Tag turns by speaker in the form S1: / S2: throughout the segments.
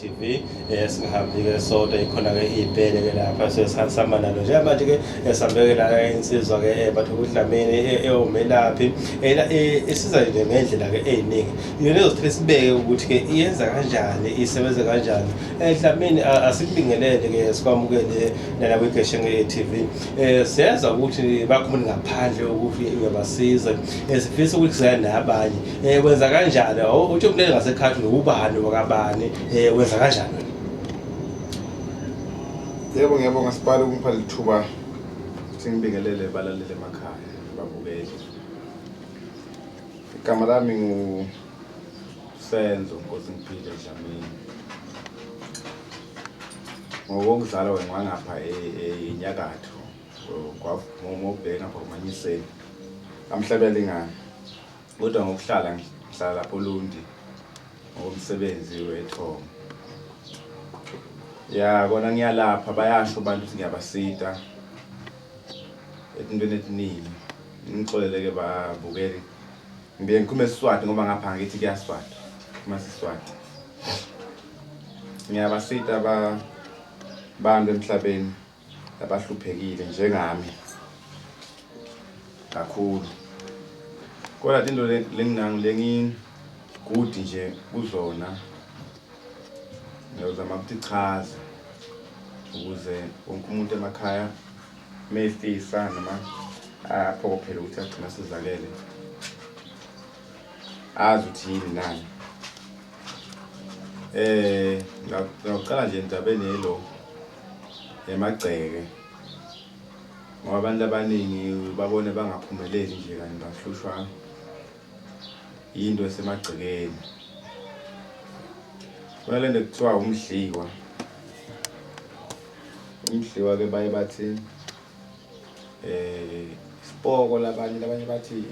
S1: TV eh, singahambi-ke sodwa ikhona-ke iy'bhele-ke lapha sesihamba nalo njengamanje-ke eh, sihambeke la eh, insizwa-ke bathu kudlameni ewumelaphi isiza nje ngey'ndlela-ke ey'ningi yona ezothithi sibeke ukuthi-ke iyenza kanjani isebenze kanjani Eh, Dlamini asikubingelele ke sikwamukele nala kwigeshe nge-TV eh siyeza ukuthi bakhumuni ngaphandle ukuthi uyabasiza eh, sifisa ukuthi siya nabanye eh wenza kanjani uthi umlele ngasekhathi ubani wakabani eh wenza kanjani
S2: Yebo ngiyabonga sibhala ukungipha lithuba singibingelele balalele emakhaya babukeli Igama lami ngu Senzo Nkosingiphile Dlamini ngokomzala wengwangapha enyakatho ngobheka ngapha kumanyiseni amhlabelingane kodwa ngokuhlala ngihlala lapho Lundi ngokomsebenzi wethongo ya kona ngiyalapha bayasho abantu ukuthi ngiyabasita etintweni etiningi ngixoleleke babukeli Ngiye ngikhulume isiswati ngoba ngapha ngithi kuyaswati uma siswati ngiyabasita ba bantu emhlabeni abahluphekile njengami kakhulu kodwa into lenginangilengigudi nje kuzona ngiyozama ukuthi chaza ukuze wonke umuntu emakhaya uma efisa noma aphokophele ukuthi agcina sizalele azi ukuthi yini nani eh ngaqala nje endabeni yelo yamagceke ngoba abantu abaningi babone bangaphumeleli nje kanti bahlushwa yinto esemagcekeni kunalento kuthiwa umdliwa Umdliwa ke baye bathi eh isipoko labanye labanye bathi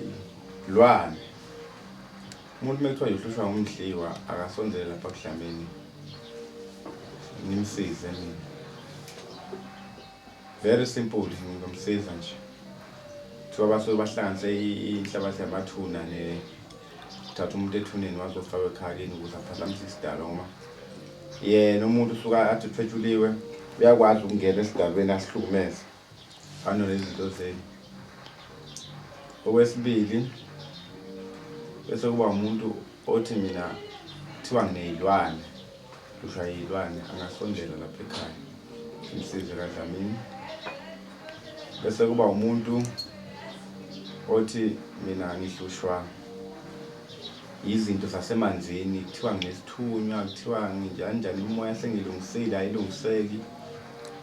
S2: lwane. Umuntu mekuthiwa uhlushwa ngumdliwa akasondele lapha kudlamini. Ngimsize mina. Very simple ngimsiza nje. Kuthiwa basuke bahlanganise inhlabathi yamathuna ne uthatha umuntu ethuneni waze ofaka ekhaleni ukuze aphazamisa isidalo ngoba yena umuntu usuka athi uthwetshuliwe uyakwazi ukungena esidalweni asihlukumeze fana nezinto zenu okwesibili bese kuba umuntu othi mina kuthiwa ngineyilwane Kusho yilwane angasondela lapha ekhaya umsize kaDlamini bese kuba umuntu othi mina ngihlushwa yizinto zasemanzini kuthiwa nginesithunywa kuthiwa nginjani njani umoya sengilungisile ayilungiseki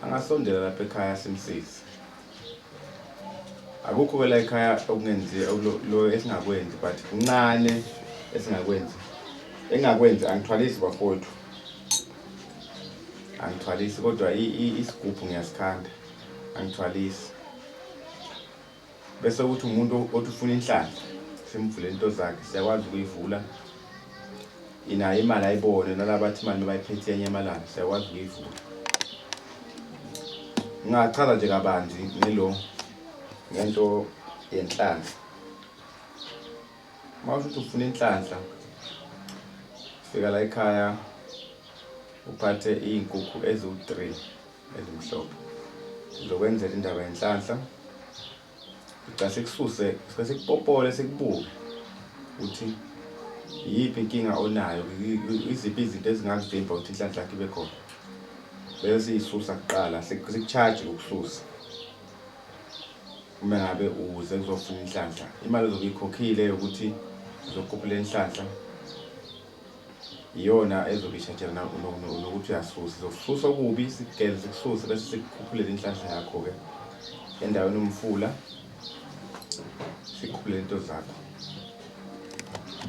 S2: angasondela lapha ekhaya simsize akukho kwela ekhaya okungenzi lo esingakwenzi but kuncane esingakwenzi engakwenzi angithwalisi bafowethu angithwalisi kodwa isigubhu ngiyasikhanda angithwalisi bese ukuthi umuntu othi ufuna inhlanhla simvule into zakhe siyakwazi ukuyivula Inayo imali ayibone nalabathi imali bayiphethe enye amalanga siyakwazi ukuyivula. Ngingachaza nje kabanzi ngelo ngento yenhlanhla. Uma usho ukuthi ufuna inhlanhla fika la ekhaya uphathe iy'nkukhu eziwu-three ezimhlophe. Ngizokwenzela indaba yenhlanhla Cha sikususe sike sikupopole sikubuke ukuthi iyiphi inkinga onayo iziphi izinto ezingakuvimba ukuthi inhlanhla yakho ibe khona bese siyisusa kuqala sikucharge ukususa uma ngabe uze kuzofuna inhlanhla imali ozobe ikhokhile yokuthi uzokhuphula inhlanhla iyona ezokishajela nokuthi uyasusa izokususa okubi sigele sikususe bese sikukhuphulele inhlanhla yakho-ke endaweni umfula sikhuphulele into zakho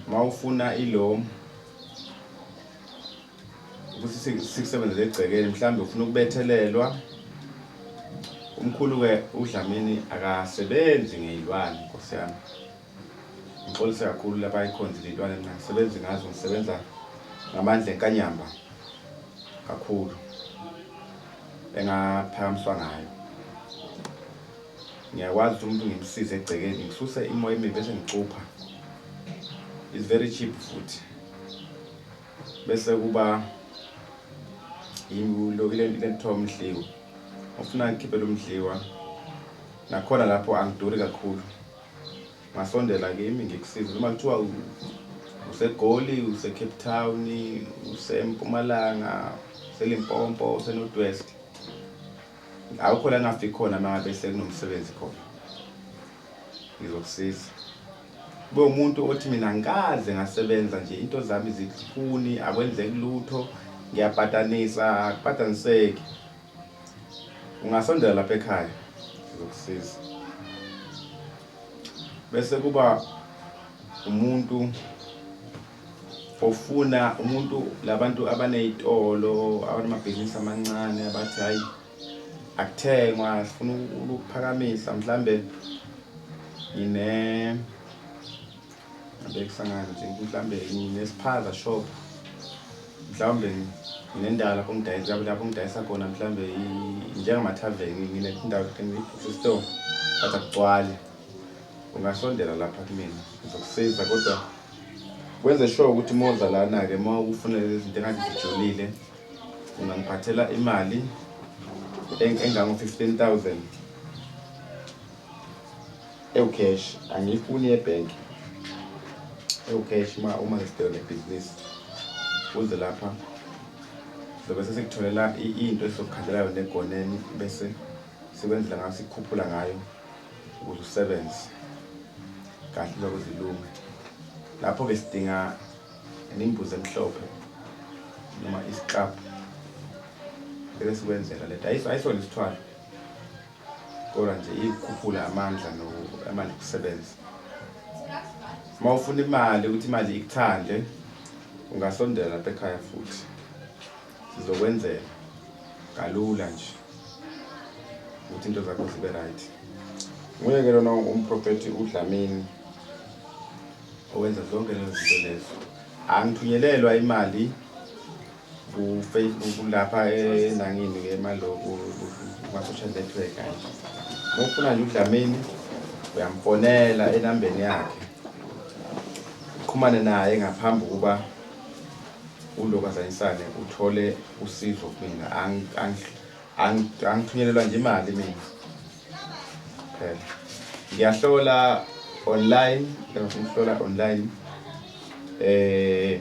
S2: uma ufuna ilomu ukuthi sikusebenzele egcekeni mhlawumbe ufuna ukubethelelwa umkhulu-ke udlamini akasebenzi ngeyilwane nkosi yami Ngixolise kakhulu laba icons lentwana engingasebenzi ngazo ngisebenza ngamandla enkanyamba kakhulu engaphakamiswa ngayo ngiyakwazi ukuthi umuntu ngimsize egcekeni ngisuse imoya emibi bese ngicupha is very cheap futhi bese kuba yilokuthiwa umdliwa ofuna ngikhiphele umdliwa nakhona lapho angiduri kakhulu Ngasondela kimi ngikusize noma kuthiwa usegoli usecape town usempumalanga uselimpompo usenorth west awukho la ngafika khona uma ngabe sekunomsebenzi khona ngizokusiza kube umuntu othi mina ngikaze ngasebenza nje into zami zikhuni akwenzeki lutho ngiyabhatanisa akubhataniseki Ungasondela lapha ekhaya sizokusiza. Bese kuba umuntu ofuna umuntu labantu abanezitolo abanamabhizinisi amancane abathi hayi akuthengwa sifuna ukuphakamisa mhlambe ngine Ngibekusangana nje mhlawumbe nginesiphaza shop mhlawumbe nginendawo lapho ngidayisa lapho ngidayisa khona mhlawumbe njengama-tarven nginendawo sesitoro but akugcwali ungasondela lapha kumina ngizokusiza kodwa wenze sure ukuthi uma uza lana-ke uma ukufunele lezi zinto engathi zijolile ungangiphathela imali engango-fifteen thousand Ewu cash angiyifuni yebank. Ewu cash uma uma ngisibheke nebhizinisi uze lapha sobe sesikutholela i- into esizokukhandela yona egoneni bese sikwenzela ngayo sikukhuphula ngayo ukuze usebenze kahle lokho zilunge lapho-ke sidinga nembuzi emhlophe noma isiklabhu bese sikwenzela lento Ayis- ayisona isithwalo kodwa nje ikukhuphula amandla amandla okusebenza uma ufuna imali ukuthi imali ikuthande ungasondela lapha ekhaya futhi sizokwenzela kalula nje ukuthi into zakho zibe right nguye ke lona umprofethi udlamini owenza zonke lezo zinto lezo angithunyelelwa imali kulapha enangini ke maloku umasosha network kanje uma ufuna nje udlamini uyamfonela enambeni yakhe uqhumane naye ngaphambi kokuba uloku azanyisane uthole usizo kumina angithunyelelwa nje imali mina phela ngiyahlola online ngihlola online eh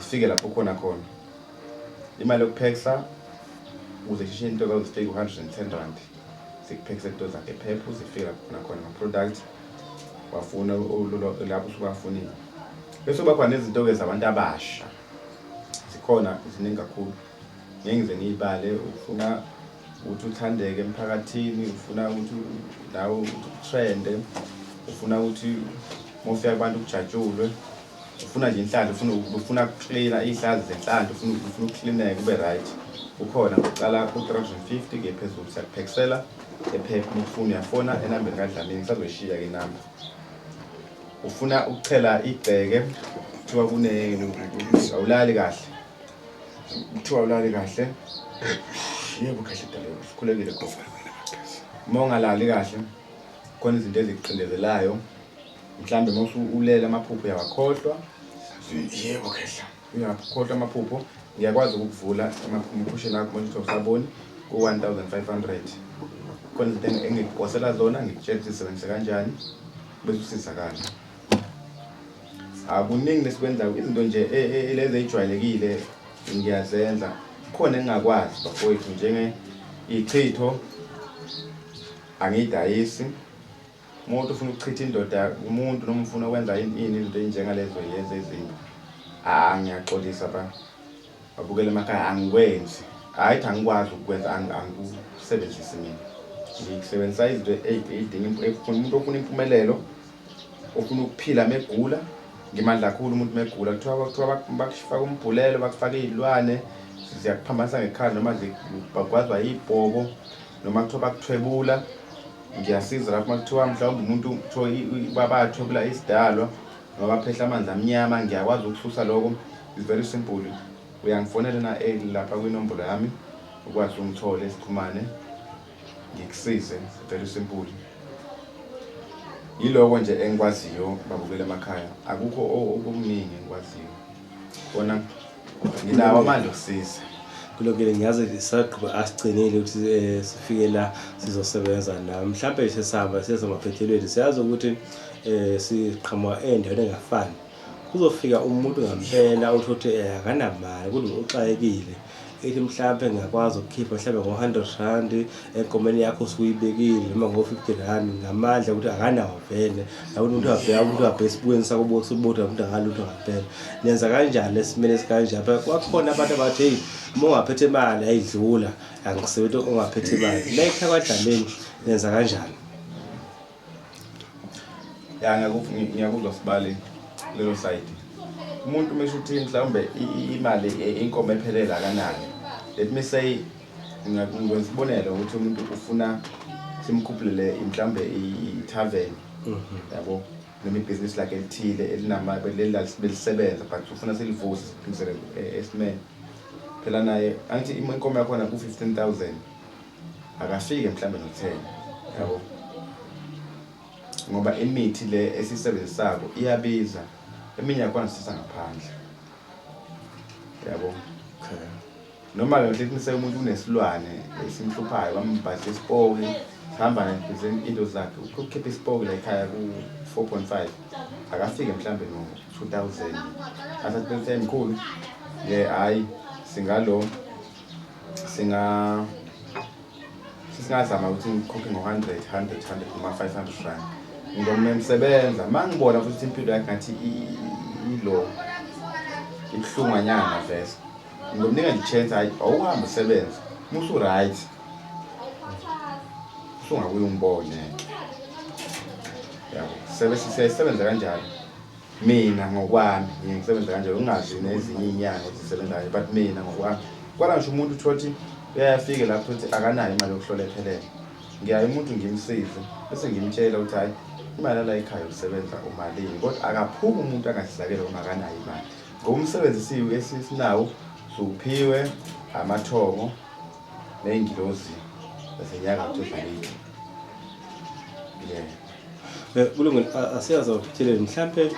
S2: Isifike lapho khona khona. Imali yokuphekisa uze shishe into ka uzifike 110 rand. Sikuphekisa into zakhe phepha uzifike lapho khona khona product wafuna lapho usukafunile. Bese kuba khona izinto ke zabantu abasha. Zikhona ziningi kakhulu. Ngeke ngize ngiyibale ufuna ukuthi uthandeke emphakathini ufuna ukuthi nawe utrende ufuna ukuthi mofika abantu kujatshulwe ufuna nje inhlanhla ufuna ufuna kucleana ihlazi zenhlanhla ufuna ufuna ukucleaneka kube right ukhona ngokuqala ku-350 ke phezulu siyakuphekisela ephepha uma ufuna uyafona enambeni kadlamini ngisazoyishiya ke inamba ufuna ukuchela igceke kuthiwa kune awulali kahle kuthiwa awulali kahle yebo kahle dalelo sikhulekile gofa uma ungalali kahle khona izinto ezikuqindezelayo mhlawumbe ngosu ulele amaphupho uyawakhohlwa yebo khehla uyakhohlwa amaphupho ngiyakwazi ukukuvula amaphupho lakho manje uthi usaboni ku-1500 khona izinto engikuphosela zona ngikutshela ukuthi zisebenzise kanjani bese usizakala akuningi lesikwenzayo izinto nje e, e, e, lezi ey'jwayelekile ngiyazenza khona engingakwazi bafowethu njenge ichitho angiyidayisi Umuntu ufuna ukuchitha indoda umuntu noma ufuna ukwenza ini izinto ezinjengalezo yenza ezinye. Ah ngiyaxolisa ba. Abukele emakhaya angikwenzi. Hayi cha ngikwazi ukwenza angikusebenzisi mina. Ngisebenzisa izinto ezidinga umuntu ofuna impumelelo ofuna ukuphila megula ngimandla kakhulu umuntu megula kuthiwa kuthiwa bakufaka umbhulelo bakufaka izilwane ziyakuphambanisa ngekhala noma bakwazi bayibhobo noma kuthiwa bakuthwebula ngiyasiza lapho uma kuthiwa mhlawumbe umuntu kuthiwa babathwebula isidalwa noma baphehla amanzi amnyama ngiyakwazi ukususa lokho is very simple uyangifonela na eh, lapha kwinombolo yami ukwazi ungithole sikhumane ngikusize very simple yiloko nje engikwaziyo babukela emakhaya akukho okuningi engikwaziyo Bona nginawo amandla okusiza. kulokele ngiyazi
S1: sisagqiba asigcinile ukuthi eh, sifike la sizosebenza la mhlawumbe sesihamba sesemaphethelweni siyazi ukuthi um siqhamuka endaweni engafani kuzofika umuntu ngampela uthi ukuthi um akanamali kulo uxakekile um ithi mhlampe ngingakwazi ukukhipha mhlampe ngo-hundred rand enkomeni yakho usuyibekile noma ngo-fifty rand ngamandla ukuthi akanawo vele akuthi umuntu abheka ukuthi abheka esibukweni sako bosubuda ukuthi akalutho ngampela nenza kanjani esimeni esikanje apha kwakhona abantu abathi heyi uma ungaphethe imali ayidlula angisebenzi ongaphethe imali layikha kwadlameni nenza kanjani
S2: ya ngiyakuzwa sibali lelo side umuntu uma esho ukuthi mhlawumbe imali e, inkomo ephelele akanani let me say ngikwenza isibonelo ukuthi umuntu ufuna simkhuphulele mhlawumbe i-tarven mhm. yabo noma ibhizinisi lakhe elithile elinamabelisebenza but ufuna silivuse siphindisele e, esimeni phela naye angithi inkomo yakhona ku-fifteen thousand akafike mhlawumbe notheni yabo ngoba imithi le esiyisebenzisako iyabiza eminye yakhona sithatha ngaphandle yabo
S1: okay noma ke
S2: ngihle kunise umuntu unesilwane esimhluphayo bambhadle isipoki sihamba nempizeni into zakhe ukukhipha isipoki la ekhaya ku-4.5 akafike mhlawumbe no-2000 asathi bese mkhulu ye hhayi singalo singa singazama ukuthi ngikhokhe ngo-hundred hundred hundred noma five hundred rand ngizomna ngisebenza ma ngibona futhi impilo yakhe ngathi ilo ibuhlunganyana vese ngizomnika nje chance hayi awuhambe usebenza musu right usungakuye umbone yabo sebesebenza kanjalo Mina ngokwami ngiye ngisebenze kanjalo ngingazi nezinye iy'nyanga ukuthi zisebenza kanje but mina ngokwami kwala ngisho umuntu uthola ukuthi uyayafike lapho ukuthi akanayo imali yokuhlola ephelele ngiyaye umuntu ngimsize bese ngimtshela ukuthi hhayi imali yala ekhaya usebenza umalini kodwa akaphumi umuntu angasizakele uma akanayo imali ngoba umsebenzi siwu esinawo siwuphiwe amathongo ney'ngilozi zasenyakatho zakithi yeah
S1: Eh, kulungile asiyazi awuphithelele mhlampe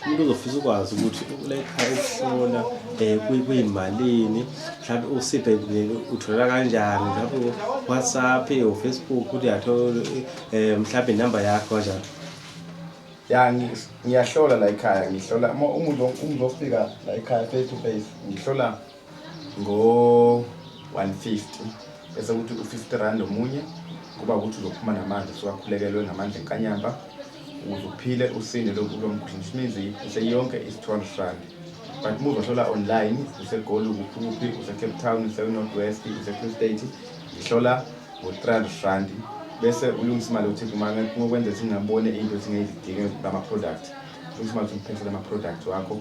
S1: umuntu uzofisa ukwazi ukuthi uletha ukuhlola um kuyimalini mhlawumbe usiphe uthola kanjani mhlawumbe whatsapp ufacebook ukuthi yathola eh, um mhlawumbe inumber yakho kanjani ya ngiyahlola
S2: la ekhaya ngihlola umuntu ofika la ekhaya face to face ngihlola ngo-150 bese kuthi u-50 rand omunye kuba ukuthi uzophuma namanzi sewakhulekelwe ngamandla enkanyamba ukuze uphile usinde lo mkhuhlane which means useyonke is-200 rand but uma uzohlola online usegoli kuphi kuphi usecape town usenorth west usefree state ngihlola ngo-300 rand bese ulungisa imali ukuthi ngokwenza ukuthi ngingabone into ukuthi ngiyidinge ngama-product ulungisa imali ukuthi ngiphethe lama-product wakho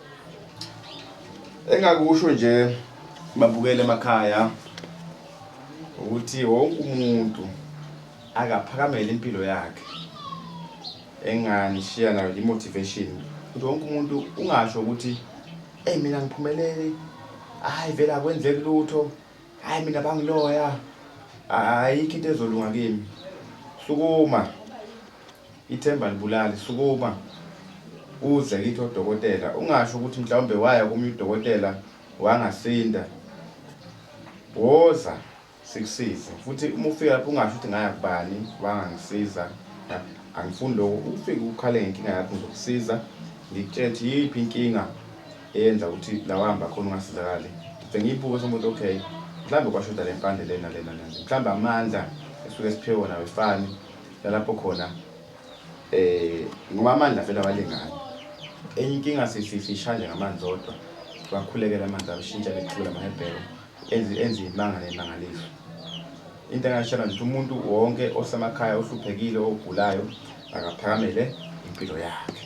S2: engakusho nje babukele emakhaya ukuthi wonke umuntu akaphakamele impilo yakhe enganishiya nayo i-motivation ukuthi wonke umuntu ungasho ukuthi eyi mina ngiphumelele hhayi vele akwenzeki lutho hhayi mina bangiloya ayikho into ezolunga kimi sukuma Ithemba libulali sukuma uze kithi odokotela ungasho ukuthi mhlawumbe waya kumnye udokotela wangasinda woza sikusize futhi uma ufika lapho ungasho ukuthi ngaya kubani wangangisiza angifuni lokho ufike ukhale ngenkinga yakho ngizokusiza ngikutshele ukuthi yiphi inkinga eyenza ukuthi lawahamba khona ungasizakali ngibe ngiyibuke somuntu okay mhlawumbe kwashoda le mpande lena lena lena mhlawumbe amandla esuke siphiwe wona wefani Nalapho khona eh ngoba amandla vele awalingani. Enye inkinga sififishane ngamanzi odwa. Bakhulekela amanzi abishintsha bethula amahebhero enzi enzi imanga nemangaliso. Into engashela nje umuntu wonke osemakhaya ohluphekile ogulayo akaphakamele impilo yakhe.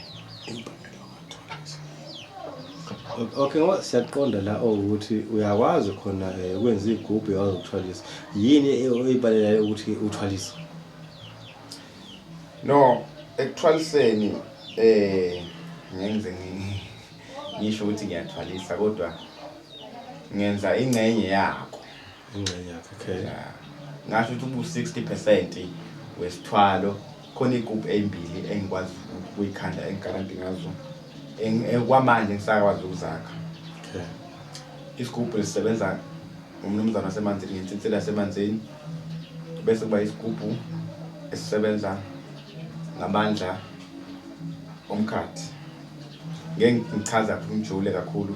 S1: Okay ngoba siyaqonda la ukuthi uyakwazi khona eh, ukwenza igubhu yawazi ukuthwalisa. Yini e- oyibalelayo ukuthi uthwalisa?
S2: No, ekuthwaliseni eh ngenze ngi- ngisho ukuthi ngiyathwalisa kodwa ngenza ingxenye yakho. ingxenye
S1: yakhe okay ngasho ukuthi
S2: ubu 60% wesithwalo khona igroup ezimbili engikwazi ukuyikhanda engigaranti ngazo eh, kwamanje ngisakwazi ukuzakha
S1: okay isigubhu
S2: esisebenza umnumzana wasemanzini ngensinsila yasemanzini bese kuba isigubhu esisebenza ngamandla omkhathi ngeke ngichaza umjule kakhulu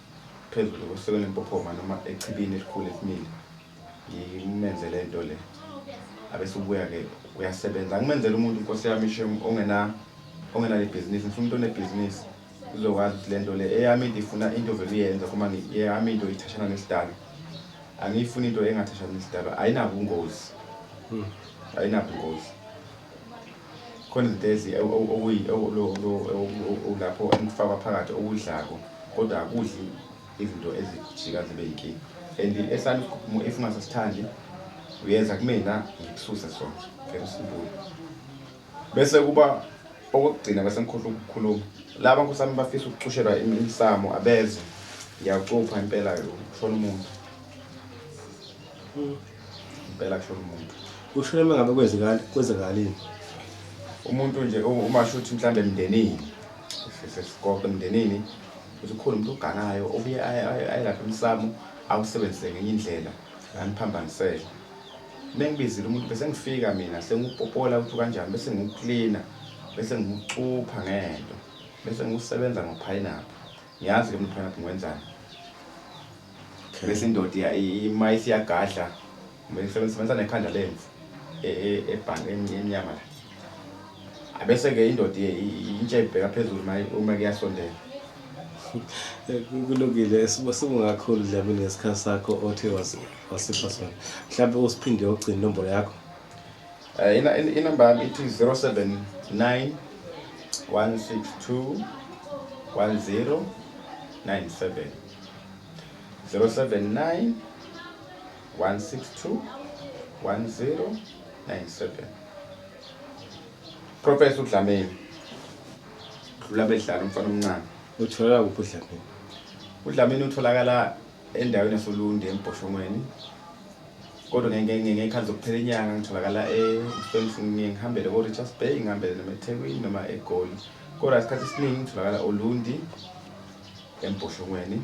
S2: phezulu kwesekela impophoma noma echibini elikhulu elimile ngimenze le nto le abese ubuya-ke uyasebenza angimenzela umuntu nkosi yami ishem ongena ongenalo ibhizinisi ngifuna umuntu onebhizinisi uzokwazi ukuthi le nto le eyami into ifuna into vele uyenza kuma eyami into ithashana nesidalo angiyifuni into engathashana nesidalo ayinabo ungozi hmm. ayinabo ungozi Khona izinto ezi lapho engikufakwa phakathi okudlako kodwa akudli izinto ezijika zibe yinkinga and esami isikhukhumo if ungasasithandi uyenza kumina ngikususe sona very simple bese kuba okokugcina bese ngikhohlwa ukukhuluma laba nkosi yami bafisa ukucushelwa imisamo abeze ngiyacupha impela yo kushona umuntu mm. Impela kushona umuntu. Ushona uma ngabe
S1: kwenzekani kwenzekalini?
S2: Umuntu nje uma shuthi mhlawumbe emndenini. Sesikoke emndenini. Uthi ukhona umuntu oganayo obuye ayelaphe umsamo awusebenzise ngenye indlela nganiphambanisele. Mengibizile umuntu bese ngifika mina sengiwupopola ukuthi kanjani bese ngiwucleaner bese ngiwucupha ngento bese ngiwusebenza ngophayinaphu. Ngiyazi ke mina uphayinaphu ngiwenzani. Okay. bese indoda iya- i- ima isiyagadla sebenzisa nekhanda lemvu e- e- ebhange em- emnyama la abese-ke indoda iye- i- i- intshe ibheka phezulu maye- uma kuyasondela Eh, ku-
S1: kulungile sibo singakhulu dlamini ngesikhathi sakho othe wasi- wasipha sona mhlawumbe usiphinde ogcina inombolo yakho Eh, ina-
S2: in- inamba yami ithi 079 162 1097 079 162 1097 Professor uDlamini dlula bedlala umfana omncane uthola kuphi
S1: uDlamini uDlamini
S2: utholakala endaweni yasoLundi eMboshongweni kodwa ngekhathi zokuphela inyanga ngitholakala eSpringfield ngihambele ko-Richards Bay ngihambele noma eThekwini noma eGoli kodwa isikhathi esiningi ngitholakala oLundi embhoshongweni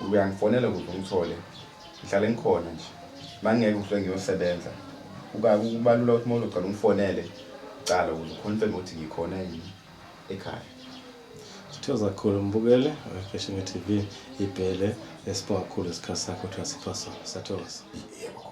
S2: uyangifonela ukuze ungithole ngihlale ngikhona nje mangeke uhle ngiyosebenza uba kubalula ukuthi mawulo cala ungifonele cala ukuze ukhonfeme ukuthi ngikhona yini ekhaya
S1: sithoza kakhulu mbukele wefashion tv ibhele esibonga kakhulu isikhathi
S2: sakho
S1: ukuthi wasipha sona sathokoza yebo